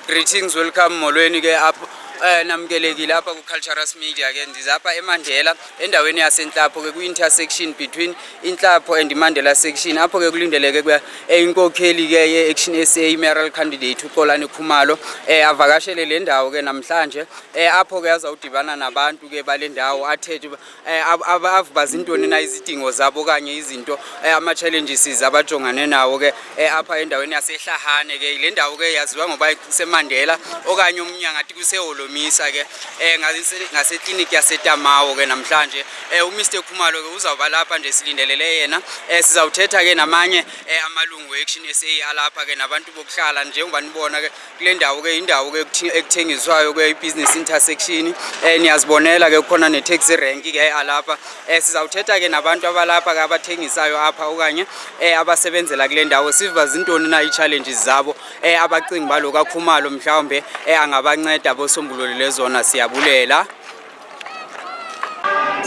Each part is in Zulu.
Greetings, welcome molweni ke apho eh namkelekile apha ku Culturous Media ke ndiza apha eMandela endaweni yasenhlapho ke kwi intersection between inhlapho and Mandela section apho ke kulindeleke kuya eh, inkokheli ke ye Action SA mayoral candidate uXolani Khumalo eh avakashele le ndawo ke namhlanje eh apho ke azawudibana nabantu ke balendawo athethe Eh, avubaza intoni na izidingo zabo okanye izinto eh, ama-challenges abajongane nawo ke eh, apha endaweni yasehlahane ke le ndawo ke yaziwa ngoba kusemandela okanye omnye angathi kuseholomisa ke ngasekliniki yasetamawo ke namhlanje umr khumalo ke uzawuba lapha nje silindelele yena sizawuthetha ke namanye amalungu e-action sa alapha ke nabantu bokuhlala njengoba nibona ke kule ndawo ke indawo ke ekuthengiswayo ke i-business intersection eh niyazibonela ke kukhona ne-taxi rank ke alapha eh sizawuthetha ke nabantu abalapha ke abathengisayo apha okanye eh abasebenzela kule ndawo siva zintoni na i-challenges zabo eh abacingi baloku akhumalo mhlawumbe eh angabanceda bosombulule lezona siyabulela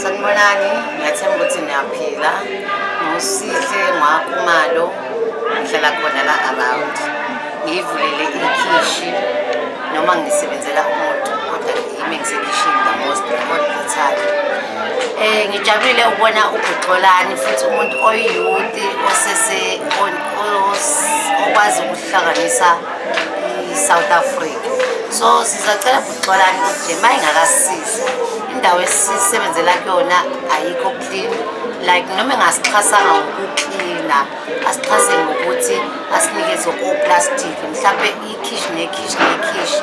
Sanibonani, ngiyathemba ukuthi niyaphila. Ngosihle ngwakumalo ngihlala khona la around. Ngiyivulele ikhishi noma ngisebenzela umuntu kodwa yimi ngisekhishini the most all the time. Eh ngijabulile ukubona uGxolani futhi umuntu oyiyouth osese on- os- okwazi ukuhlanganisa i-South Africa. So sizacela xolani nje uma ingakasizi indawo esisebenzela kuyona ayikho clean like noma engasixhasanga ngokuklina asixhase ngokuthi asinikeze oplastic mhlawumbe ikhishi nekhishi nekhishi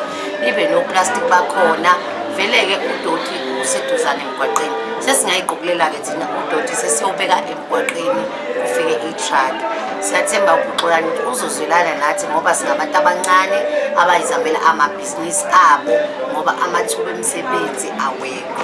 ibe noplastic bakhona vele-ke udoti useduzane emgwaqeni sesingayiqukulela-ke thina udoti sesiyobeka emgwaqeni kufike i-truck siyathemba ukuxolani uzozwelana nathi ngoba singabantu abancane abayizamela ama amabhizinisi abo ngoba amathuba emisebenzi awekho.